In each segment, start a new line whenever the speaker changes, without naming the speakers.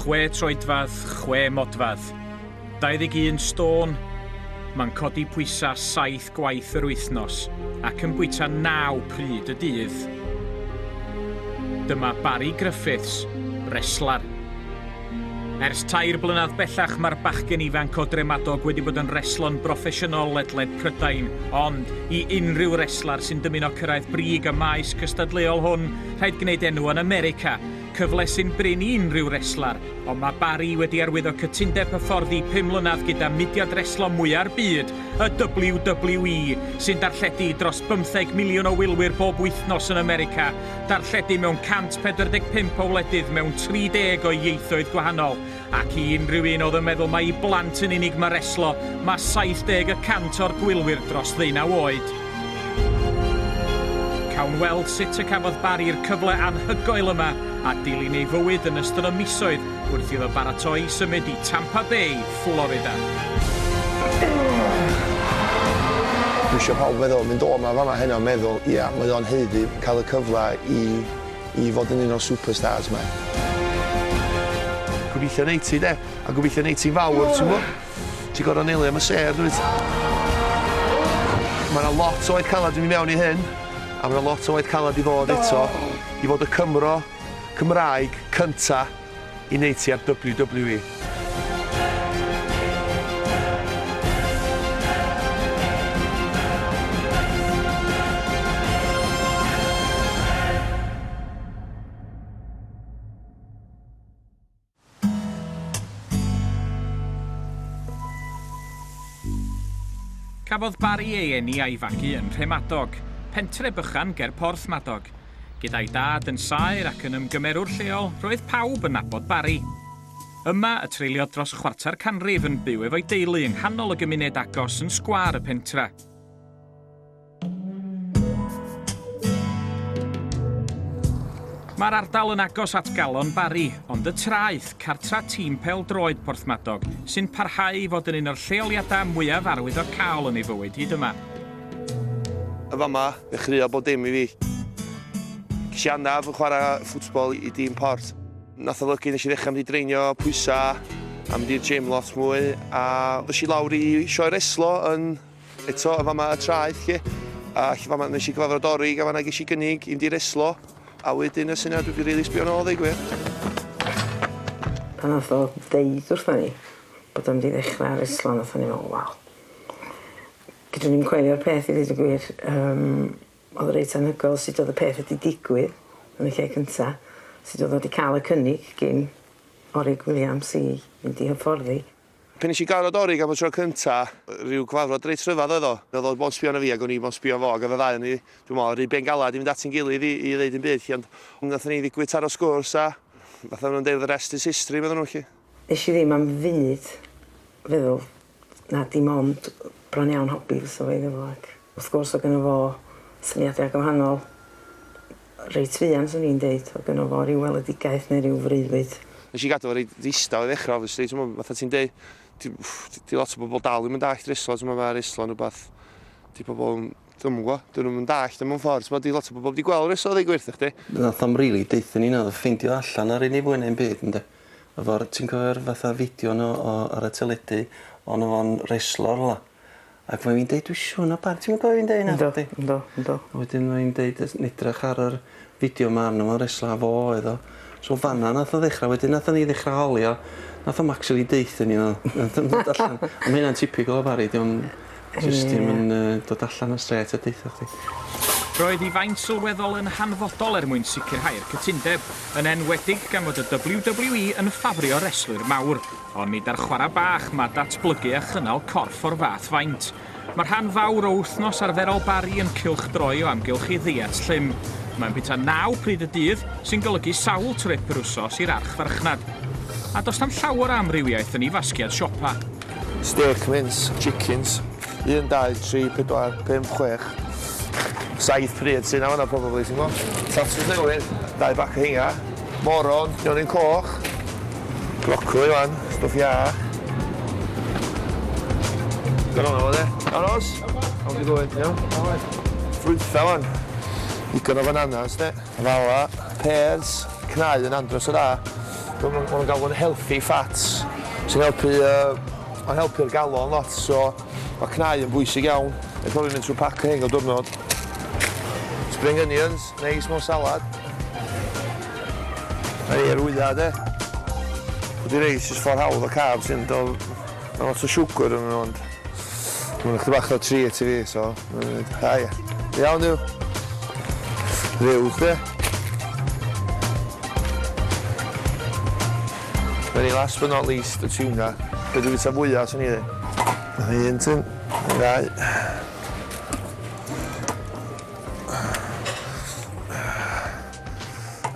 Chwe troedfedd, chwe modfedd, 21 stôn, mae'n codi pwysau saith gwaith yr wythnos ac yn bwyta naw pryd y dydd. Dyma Barry Griffiths, reslar. Ers tair blynedd bellach mae'r bachgen ifanc o Dremadog wedi bod yn reslo'n broffesiynol ledled Prydain, ond i unrhyw reslar sy'n dymuno cyrraedd brig y maes cystadleuol hwn, rhaid gwneud enw yn America. Cyfle sy'n brin i unrhyw reslar, ond mae Barry wedi arwyddo cytundeb hyfforddi pum mlynedd gyda mudiad reslo mwya'r byd, y WWE, sy'n darlledu dros bymtheg miliwn o wylwyr bob wythnos yn America, darlledu mewn 145 o wledydd mewn 30 o ieithoedd gwahanol, ac i unrhyw un oedd yn meddwl mai i blant yn unig mae reslo, mae 70 y cant o'r gwylwyr dros ddeunaw oed. Cawn weld sut y cafodd Barry'r cyfle anhygoel yma a dilyn ei fywyd yn ystod y misoedd wrth iddo baratoi i symud i Tampa Bay, Florida. Dwi isio pawb feddwl, mynd o 'ma a fama heno a meddwl, 'ia, mae o'n haeddu cael y cyfle i i fod yn un o'r superstars 'ma'. Gobeithio wnei ti 'de, a gobeithio wnei ti'n fawr, ti'n gwybod? Ti'n gorfod neillio am y sêr, dwyt? Mae yna lot o oed caled yn mynd i mewn i hyn, a mae yna lot o oed caled i ddod eto, i fod y Cymro, Cymraeg, cynta'. i wneud ti ar WWE. Cafodd Barry ei eni a'i fagu yn Nhremadog, pentre bychan ger Porthmadog, Gyda'i dad yn saer ac yn ymgymerwr lleol, roedd pawb yn nabod Barry. Yma y treuliodd dros chwarter canrif yn byw efo'i deulu yng nghanol y gymuned agos yn sgwâr y pentra. Mae'r ardal yn agos at galon Barry, ond y traeth, cartra tîm pel-droed Porthmadog, sy'n parhau i fod yn un o'r lleoliadau mwyaf arwyddocaol yn ei fywyd hyd yma. Yn fama, ddechreuodd bob dim i fi. Ges i anaf yn chwarae ffwtbol i dîm Port. Nath olygu nes i ddechrau mynd i dreinio pwysa a mynd i'r gym lot mwy a ddois i lawr i sioe reslo yn eto yn fama y traeth lle. A lle fama nes i gyfarfod Dorig a fanna ges i gynnig i mynd i reslo a wedyn y syniad wedi rili sbio nôl ddeu gwir. Pan nath o ddeud wrtha ni bod o'n mynd i ddechrau reslo nathon ni me'wl wel Dydw i'n coelio'r peth i ddeud y gwir yym o'dd o reit anhygoel sut o'dd y peth wedi digwydd yn y lle cynta sut o'dd o 'di ca'l y cynnig gin Orig Williams i mynd i hyfforddi. Pan nesh i gyfarfod Orig am y tro cynta ryw gyfarfod reit rhyfadd oedd o. O'dd o mond sbio arno fi ag o'n i mond sbio fo ag o'dd y ddau o ni dwi me'wl ry ben galad i fynd ati'n gilydd i i ddeud dim byd 'lly ond nathon ni ddigwydd taro sgwrs a fatha ma' nw'n deud the rest is history medden nhw 'lly. Nesh i ddim am funud feddwl na dim ond bron iawn hobi fysa fo iddo fo ac wrth gwrs o' gynno fo syniada gwahanol reit fuan swn i'n deud o' gynno fo ryw weledigaeth neu ryw freuddwyd. Nesh i gadw fo reit ddistaw i ddechra obviously t'mo' fatha ti'n deu' ti- ff- 'di lot o bobol dal ddim yn dallt reslo t'mo' ma' reslo'n rwbath 'di pobol 'im dwi'm yn g'wo' 'dyn nw'm yn dallt o mewn ffor t'mo' 'di lot o bobol 'eb 'di gweld reslo ddeu' gwir 'tho chdi. Nath o'm rili deutho ni naddo ffeindio allan ar ei ni fwy neu'm byd ynde? Efo'r ti'n cofio'r fatha fideo yno o ar y teledu on' o' fo'n reslo rwla ac ma' fi'n deud dwi siŵr na bar- ti'm yn cofio fi'n deud ynna nacdi? Yndw yndw yndw. A wedyn ma' 'i'n deud jys edrych ar yr fideo 'ma arno fo'n reslo a fo oedd o. So fan 'na nath o ddechra wedyn nathon ni ddechra holi o nath o'm actually deutho ni o. Nath o'm dod allan. A ma' hynna'n tipyg o Bari 'di o'm Ie. Jyst dim yn yy dod allan yn strêt a deutha chdi. Roedd hi faint sylweddol yn hanfodol er mwyn sicrhau'r cytundeb, yn enwedig gan fod y WWE yn ffafrio reslwyr mawr, ond nid ar chwarae bach, mae datblygu a chynnal corff o'r fath faint. Mae rhan fawr o wythnos arferol Barry yn cylchdroi o amgylch ei ddeiet llym. Mae'n bwyta naw pryd y dydd, sy'n golygu sawl trip yr wsos i'r archfarchnad. A does na'm llawer o amrywiaeth yn ei fasgiad siopa. Stêc mins, chickens, un, dau, tri, pedwar, pump, chwech, saith pryd sy'n awna probably, ti'n gwybod? Tatws newydd, dau bac o hinga, moron, nionyn coch, brocoli fan, stwff ia. Gan o'n awna, aros? How's it going, iawn? Ffrwytha fan, digon o fananas, de? Fala, pêrs, cnau yn andros o dda. Maen nhw'n maen nhw'n galw nhw'n healthy fats sy'n helpu yy ma'n helpu'r galon lot so ma' cnau yn bwysig iawn. Dwi'n cofio mynd trwy pac o rhein bob diwrnod. Spring onions, neis mewn salad. Mae rhei ar wyau de. Dydi rei jyst ffordd hawdd o carbs sy'n do- ma' lot o siwgr yn nhw ond. Mae'n chdi bach o treat i fi, so... Ah, ie. Iawn yw. Rhyw, chdi. Very last but not least, y tiwna. Be dwi'n bita fwyaf, sy'n ni ddi? Mae un tyn, yn gau.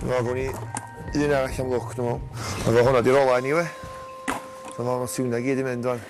Fo, gwn i un arall am lwc, dwi'n meddwl. Mae fo hwnna di rolau ni, we. Mae fo, mae tiwna gyd i mynd, dwi'n.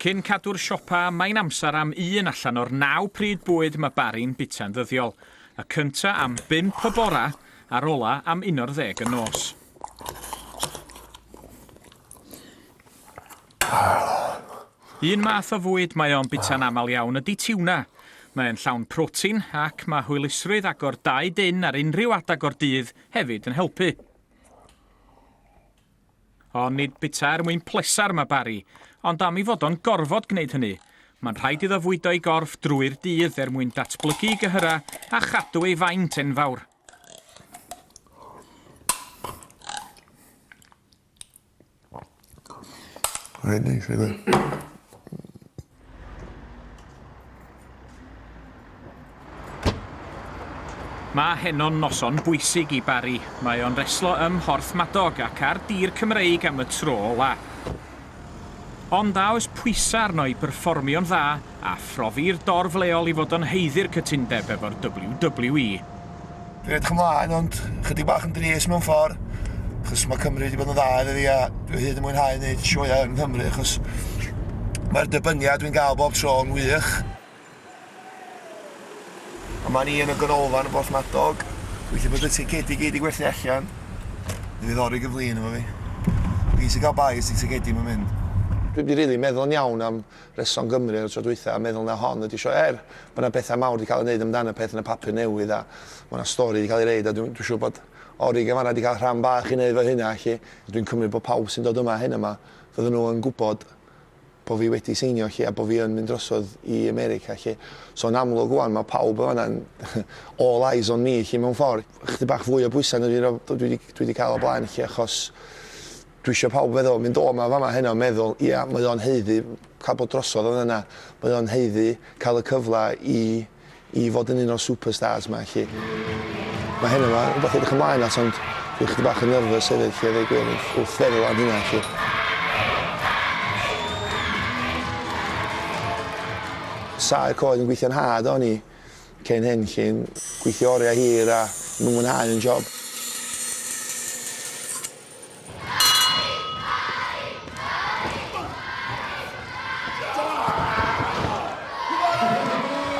Cyn cadw'r siopa, mae'n amser am un allan o'r naw pryd bwyd mae Barry'n bita'n ddyddiol, y cynta am bump y bora a'r ola am uno'r ddeg y nos. Un math o fwyd mae o'n bita'n aml iawn ydy tiwna. Mae'n llawn protein ac mae hwylusrwydd agor dau dyn ar unrhyw adeg o'r dydd hefyd yn helpu. Ond nid bwyta er mwyn pleser mae Barry, ond am ei fod o'n gorfod gwneud hynny. Mae'n rhaid iddo fwydo ei gorff drwy'r dydd er mwyn datblygu ei gyhyrau a chadw ei faint enfawr. Rhaid neis, Mae heno'n noson bwysig i Barry. Mae o'n reslo ym Mhorthmadog ac ar dir Cymreig am y tro ola. Ond a oes pwysau arno i berfformio'n dda a phrofi'r dorf leol i fod o'n haeddu'r cytundeb efo'r WWE? Dwi'n edrych ymlaen ond chydig bach yn dries mewn ffordd achos mae Cymru wedi bod yn dda iddo fi a dwi hyd yn mwynhau wneud sioeau yng Nghymru achos mae'r dybyniad dwi'n gael bob tro yn wych. Yma ni yn y ganolfan yn Porthmadog. Gweithio bod y tegedi gyd i gwerthu allan. Dwi ddori gyflin efo fi. Fi sy'n cael bai os di tegedi mae'n mynd. Dwi wedi rili meddwl yn iawn am Rheswm Gymru ar y tro dwytha a meddwl na hon ydi sioe er bo na betha mawr di ca'l ei neud amdan y peth yn y papur newydd a ma na stori di ca'l ei reid a dwi dwi siŵr bod Orig yn fanna di ca'l rhan bach i neud fo hynna lly a dwi'n cymryd bo pawb sy'n dod yma hyn yma fydden nhw yn gwbod bo fi wedi seinio lly a bo fi yn mynd drosodd i America lly so yn amlwg ŵan ma pawb yn fanna'n all eyes on me lly mewn ffor chydig bach fwy o bwysa na dwi di ca'l o blaen lly achos Dwi isio pawb feddwl, mynd o 'ma fama heno a meddwl, ia, mae o'n haeddu cael bod drosodd oedd yna, mae o'n haeddu cael y cyfle i i fod yn un o'r superstars 'ma 'lly. Mae heno 'ma yn rwbath i edrych ymlaen at ond dwi chydig bach yn nervous hefyd 'lly a ddeu gwir wrth wrth feddwl am hynna 'lly. Saer coed yn gweithio'n nhad o'n i cyn hyn 'lly, gweithio oriau hir a ddim yn mwynhau yn job.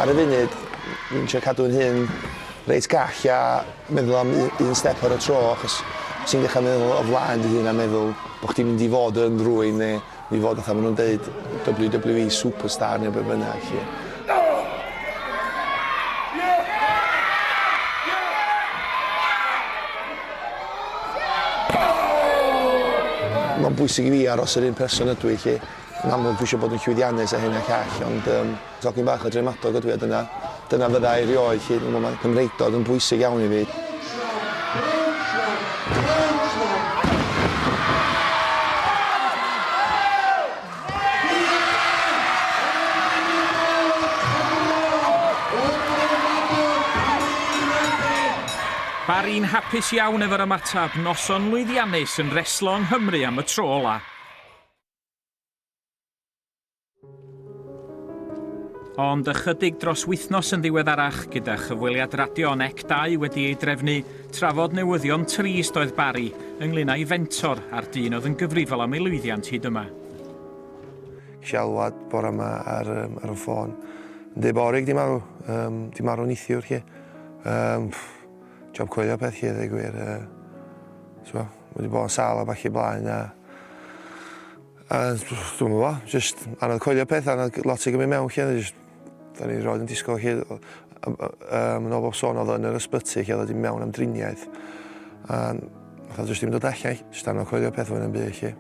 Ar y funud, fi'n trio cadw fy nhun reit gall a meddwl am u- un step ar y tro achos os ti'n dechra meddwl o flaen dy hun a meddwl bo' chdi'n mynd i fod yn rwun ne' I fod fatha ma nhw'n deud WWE superstar neu be bynnag 'lly. Mae'n bwysig i fi aros yr un person ydw i 'lly. Yn amlwg dwi isio bod yn llwyddiannus a hyn a llall ond yym Tocyn bach o Dremadog ydw i a dyna dyna fydda i rioed 'lly. Dw mae Cymreictod yn bwysig iawn i fi. Barry yn hapus iawn efo'r ymateb, noson lwyddiannus yn reslo yng Nghymru am y tro ola'. Ond ychydig dros wythnos yn ddiweddarach, gyda chyfweliad radio yn ec 2 wedi ei drefnu, trafod newyddion trist oedd Barry ynglyn â'i fentor a'r dyn oedd yn gyfrifol am ei lwyddiant hyd yma. Ges i alwad bore yma ar, um, ar y ffôn. Yn dweud bod Orig di marw. Um, di marw nithiwr chi. Um, job coelio peth chi, ddweud gwir. Uh, so, wedi bod yn sal a falle blaen a A dwi'm yn gwbo, jyst anodd coelio peth a ma' lot 'di gymyd mewn 'lly a jyst 'dan ni rioed yn disgwl 'lly yy yym yn ôl bob sôn o'dd o yn yr ysbyty 'lly o'dd o 'di myn' mewn am driniaeth a nath o jyst dim dod allan 'lly. Jyst anodd coelio peth fwy na'm byd 'lly.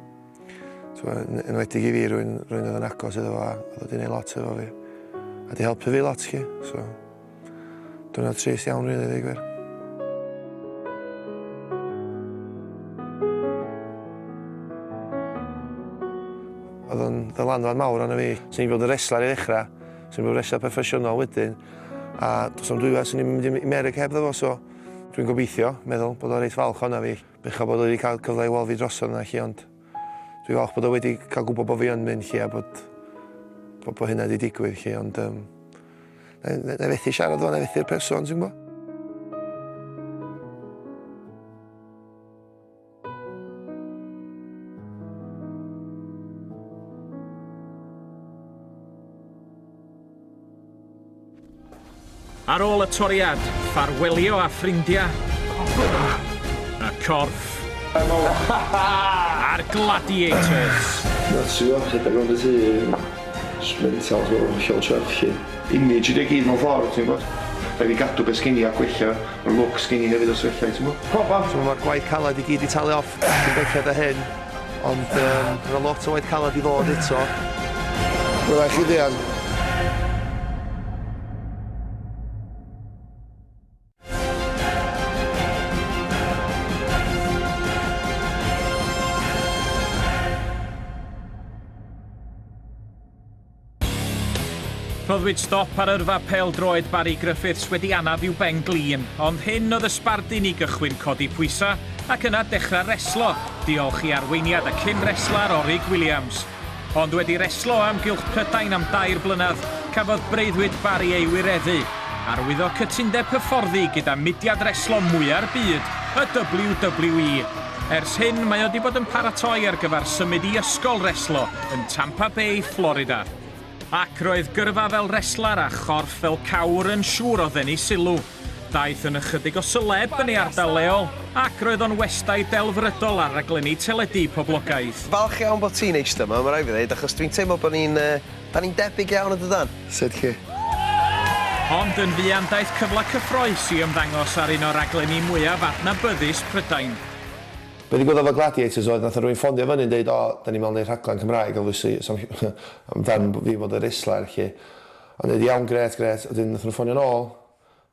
T'mo' yn enwedig i fi rywun rywun o'dd yn agos iddo fo a o'dd o 'di neu' lot efo fi a 'di helpu fi lot 'lly so Dyna trist iawn rili ddeu gwir. Oedd o'n ddylanwad mawr arno fi. Swn i'n bod yn reslar i ddechrau, swn i'n bod yn reslar proffesiynol wedyn, a dos am dwywaith swn i'n mynd i America heb ddefo, so dwi'n gobeithio, meddwl, bod o'n reit falch o'na fi. Bechod bod wedi cael cyfle i weld fi drosodd yna chi, ond Dwi'n falch bod o wedi cael gwybod bod fi yn mynd 'lly a bod bod bod hynna wedi digwydd 'lly ond um, na, na, na fethu siarad o'n fethu'r person ti'n gwybod? Ar ôl y toriad, ffarwelio â ffrindiau y corff a'r gladiators! That's you all hit the road at him. Sblint out o'r hollol chuff chi. Image ydi o gyd mewn ffordd ti'n gwbod? Rhaid fi gadw be sgin i a gwella y look sgin i hefyd os ellai t'mo'? Proper! T'mo' ma'r gwaith caled i gyd 'di talu off. Ti'n belled â hyn, ond um, mae lot o waith caled i ddod eto. Mae'n rhaid chi ddeall, Rhoddwyd stop ar yrfa pêl-droed Barry Griffiths wedi anaf i'w ben glin, ond hyn oedd y sbardun i gychwyn codi pwysau ac yna dechrau reslo, diolch i arweiniad y cyn reslar Orig Williams. Ond wedi reslo am gylch Prydain am dair blynedd, cafodd breuddwyd Barry ei wireddu. Arwyddo cytundeb hyfforddi gyda mudiad reslo mwya'r byd, y WWE. Ers hyn, mae o 'di bod yn paratoi ar gyfer symud i ysgol reslo yn Tampa Bay, Florida. Ac roedd gyrfa fel reslar a chorff fel cawr yn siŵr o ddenu sylw. Daeth yn ychydig o seleb yn ei ardal leol, ac roedd o'n westai delfrydol ar raglenni teledu poblogaidd. Falch iawn bod ti'n eistedd 'ma, ma' raid fi ddeud, achos dwi'n teimlo bod ni'n Da ni'n debyg iawn yn dydan? Sut chi? Ond yn fuan daeth cyfle cyffroes i ymddangos ar un o raglenni mwyaf adnabyddus Prydain. Be ddigwyddodd efo Gladiators oedd nathon rywun ffondio fyny yn deud o 'da ni mewn neud rhaglen Cymraeg obviously so am fam fi fod y' resler 'lly. O'n i ddeud iawn grêt grêt a wedyn nathon nhw ffonio'n ôl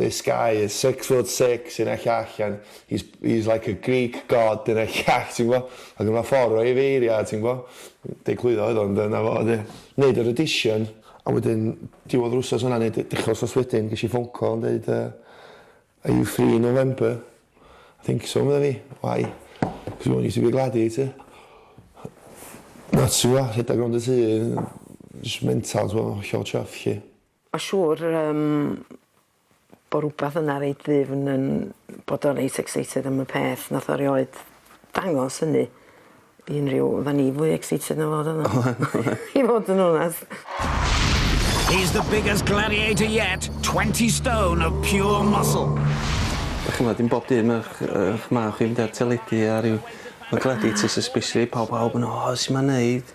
this guy is six foot six yn y llall and he's, he's like a Greek god yn y llall, ti'n gwybod? Ac yna ffordd o'i feiriau, ti'n gwybod? Deglwyddo oedd o'n dyna fo, oedd e. Wneud yr audition, a wedyn diwedd yr wsos yna, neu dechrau wsos wedyn, ges i phone call yn dweud, uh, are you free in November? I think so, meddai fi. Why? Because we want you to be gladiator. Na, ti'n gwybod, rhedeg rownd y tŷ, just mental, ti'n gwybod, hollol chuff, chi. Ma' siŵr yym bo' rwbath yna reit ddifn yn bod o reit excited am y peth nath o rioed dangos hynny i unryw oddan ni fwy excited na fo do do? Oe- oedd. I fod yn onast. He's the biggest gladiator yet, twenty stone of pure muscle. Dach ch'mod dim bob dydd ma'ch yy 'ych mah chi'n mynd ar teledu a ryw ma' gladiators especially pow- pawb yn o su' ma'n neud?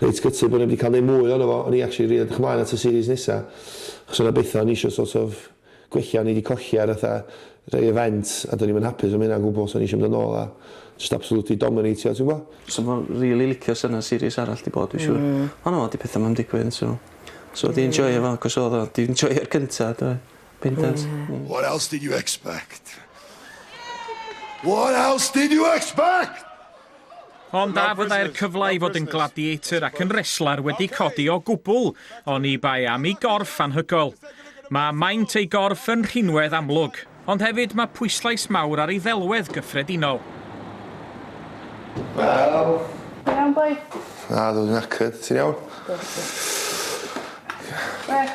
reit gutted bo' ni 'eb 'di ca'l neud mwy ohono fo, o'n i actually rili edrych ymlaen at y series nesa, achos o' 'na betha o'n i isio sort of gwella o'n i 'di colli ar fatha rei events a do'n i'm yn hapus am hynna o gwbwl so o'n i isio mynd yn ôl a jyst absolutely dominateio ti'n gwbo? Sa fo rili licio sa 'na series arall 'di bod dwi siŵr. Hmm. On' o 'di petha 'ma 'im digwydd so so 'di enjoio fo acos o'dd o 'di enjoio'r cynta do? Bendant. Ie. What else did you expect? What else did you expect? Ond a fyddai'r cyfle i fod yn gladiator ac yn reslar wedi codi o gwbl, oni bai am ei gorff anhygoel. Mae maint ei gorff yn rhinwedd amlwg, ond hefyd mae pwyslais mawr ar ei ddelwedd gyffredinol. Wel. Ti'n iawn boi? Na, dwi'n knackered. Ti'n iawn? Gwych.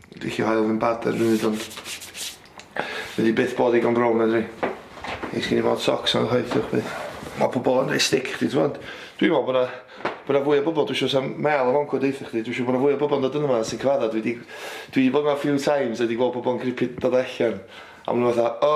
Dwi isio hael fy mhad ar y funud ond fydd hi byth bod digon brown medda fi. Neis gen i fod socs on chwaith ta chwaith. Ma pobol yn roi stick i chdi t'mod. Dwi'n me'wl bo' 'na bo' 'na fwy o bobol dwi isio sa'm mêl yn f'oncw deutha chdi dwi isio bo' 'na fwy o bobol yn dod yno 'ma sy'n cyfadda dwi 'di dwi 'di bod 'ma few times a 'di gweld pobol yn gripio dod allan a ma' nw fatha o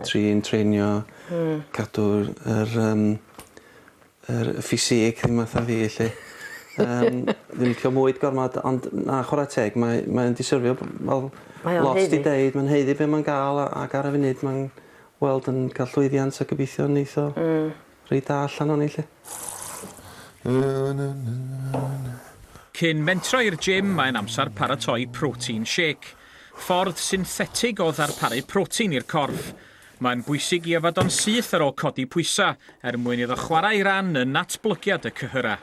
Trin treinio cadw yr yym yr y ffisîg ddim fatha fi 'lly. Yym dwi'n licio mwyd gormod ond na chwara teg mae mae o'n disyrfio b- wel... Mae o'n haeddu. ...lot 'di deud ma'n haeddu be' ma'n ga'l a ac ar y funud ma'n weld yn ca'l llwyddiant a gobeithio neith o... Hmm. Reit dda allan o'n i 'lly. Cyn mentro i'r gym mae'n amser paratoi protein shake. Ffordd synthetig o ddarparu protein i'r corff. Mae'n bwysig i yfed o'n syth ar ôl codi pwysau er mwyn iddo chwarae ei ran yn natblygiad y cyhyrau.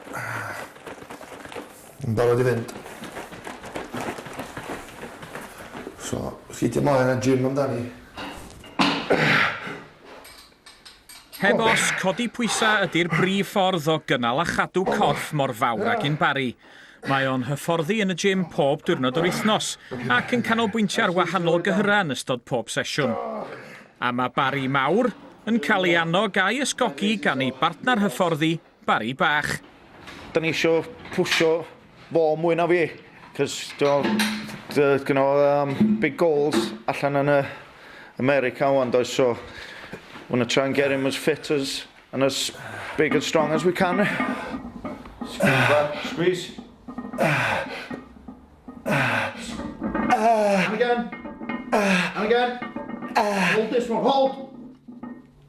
Yn barod i fynd. So, sgidie mlaen a gym amdani? Heb os, codi pwysau ydy'r brif ffordd o gynnal a chadw corff mor fawr ag un Barry. Mae o'n hyfforddi yn y gym pob diwrnod yr wythnos ac yn canolbwyntio ar wahanol gyhyrau yn ystod pob sesiwn. A mae Barry mawr yn cael ei annog a'i ysgogi gan ei bartner hyfforddi, Bari bach. Da ni isio pwsio fo mwy na fi, cos dwi'n gyno um, big goals allan yn y America wan, does, so we're gonna try and get him as fit as and as big and strong as we can. Squeeze. And again. And again. Hold this one, hold.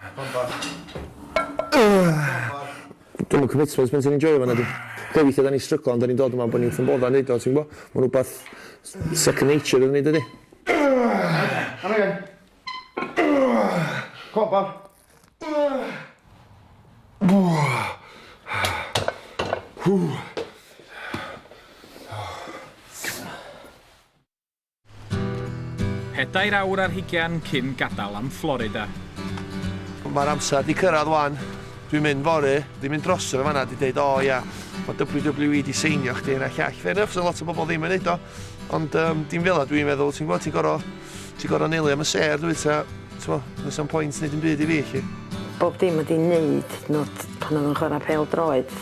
Come on boss. Dwi'm yn commitment pan ti'n enjoio fo nadi? Be' weithia' 'dan ni'n stryglo ond 'dan ni'n dod yma am bo' ni'n ffyn bodda neud o ti'n gwbo? Ma'n wbath s- second nature iddo ni dydi? Come again. Come on boss. Hŵ. Pedair awr ar hugain cyn gadael am Florida. Mae'r amser 'di cyrraedd 'wan. Dwi'n mynd fory. Dwi'n mynd drosto fe fan'na 'di deud o ia ma' WWE 'di seinio chdi hyn a llall. Fair enough 'sa lot o bobl ddim yn neud o ond yym dim fela dwi'n meddwl ti'n gwbod ti'n gor'o' ti'n gor'o' neili am y sêr dwyt ta t'mo' does na'm point neud dim byd i fi 'lly. Bob dim wedi neud n'w t- pan o'dd yn chwara pêl droed.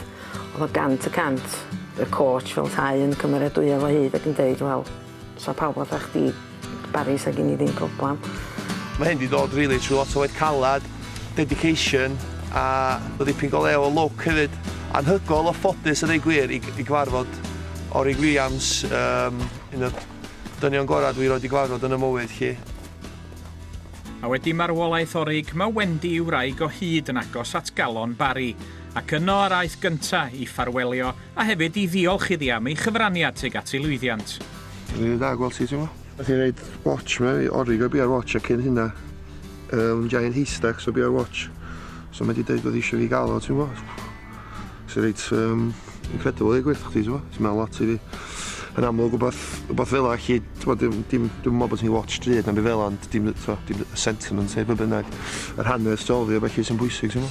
Oedd o gant y cant. Y coach fel 'tai yn cymeradwyo fo hyd ac yn deud, 'Wel, 'sa pawb fatha chdi Barry 'sa gin i ddim problam. Mae hyn 'di dod rili trwy lot o waith caled, dedication a bod dipyn go lew o lwc hefyd. Anhygoel o ffodus a deud gwir i i gyfarfod Orig Williams yym un o'r dynion gorau dwi roed i gyfarfod yn 'y mywyd 'lly. A wedi marwolaeth Orig, mae Wendy ei wraig o hyd yn agos at galon Barry. ac yno yr aeth gynta' i ffarwelio a hefyd i ddiolch iddi am ei chyfraniad tuag at ei lwyddiant. Mae'n rhy dda gweld ti t'mo. Nath hi roid watch mewn i origo fi ar watch a cyn hynna yym giant haystack so fi ar watch so mae 'di deud o'dd isio fi ga'l o ti'n gwbo sy reit yym incredible deu gwir thachdi t'mo sy'n meddwl lot i fi yn amlwg wbath wbath fela allu t'mo dim dim dim me'wl bo' ti'n watch drud na'm by fel ond dim t'mo dim y sentiment neu be' bynnag yr hanes tu ol iddi a felly sy'n bwysig t'mo.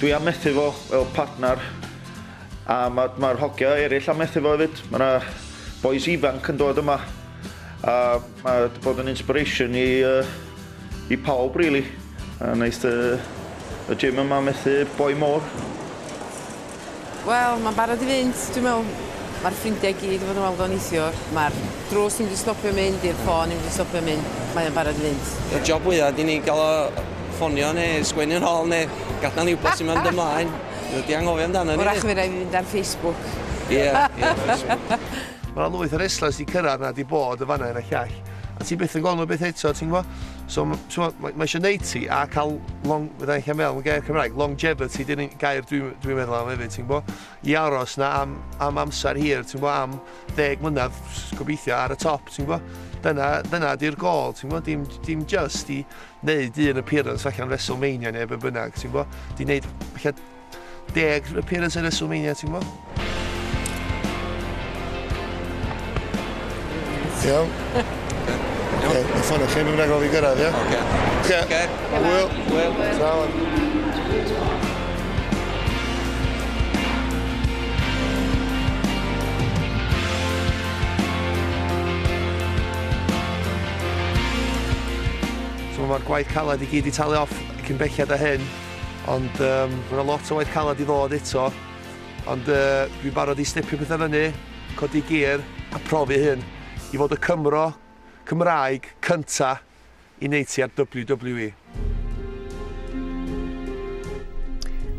Dwi am methu fo fel partner a ma' ma'r hogia eryll am methu fo efyd. Ma' 'na bois ifanc yn dod yma a ma' 'di bod yn inspiration i yy i pawb rili a neith yy y gym yma methu boi mowr. Wel, mae'n barod i fynd, dwi'n meddwl. Mae'r ffrindiau i gyd wedi bod yn weld o neithiwr. Mae'r drws ddim wedi stopio mynd, i'r ffôn ddim wedi stopio mynd. Mae o'n barod i fynd. Y job fwya ydy ni gael o ffonio neu sgwennu yn ôl neu gadael ni wybod sut mae'n mynd ymlaen. Nhw wedi anghofio amdano ni. Wrach mi rai' fi fynd ar Facebook. Ie, ie, Facebook. Mae 'na lwyth o restlers 'di cyrraedd 'na, 'di bod yn fan'na hyn a llall, a ti byth yn gweld nhw byth eto, ti'n gwybod. So, t'mo', mae mae isio neud ti a ca'l long- fydda i'n gallu meddwl yn gair Cymraeg, longevity 'di'r un gair dwi dwi'n meddwl am hefyd, ti'n gwbo? I aros 'na am am amser hir, ti'n gwbo, am ddeg mlynedd, s- gobeithio, ar y top, ti'n gwbo? Dyna dyna 'di'r gôl, ti'n gwbo, dim dim jyst i neud un appearance allan o WrestleMania ne' be' bynnag, ti'n gwbo? 'Di neud ella Deg appearance ar WrestleMania, ti'n gwybod? Iawn. Iawn. Ie, y ffonio chi, mi'n rhaid gofio gyrraedd, ie? Oce. Oce. Oce. Hwyl. Hwyl. Sawan. So mae'r gwaith caled i gyd i talu off cyn belled â hyn. Ond um, mae yna lot o waith calad i ddod eto. Ond uh, dwi'n barod i stepio pethau fyny, codi gear a profi hyn i fod y Cymro Cymraeg cynta i wneud ti ar WWE.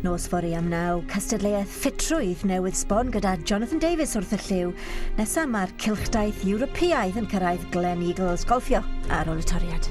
Nos fori am naw, cystadleuaeth ffitrwydd newydd sbon gyda Jonathan Davies wrth y lliw. Nesaf mae'r cilchdaith Ewropeaidd yn cyrraedd Glen Eagles golfio ar ôl y toriad.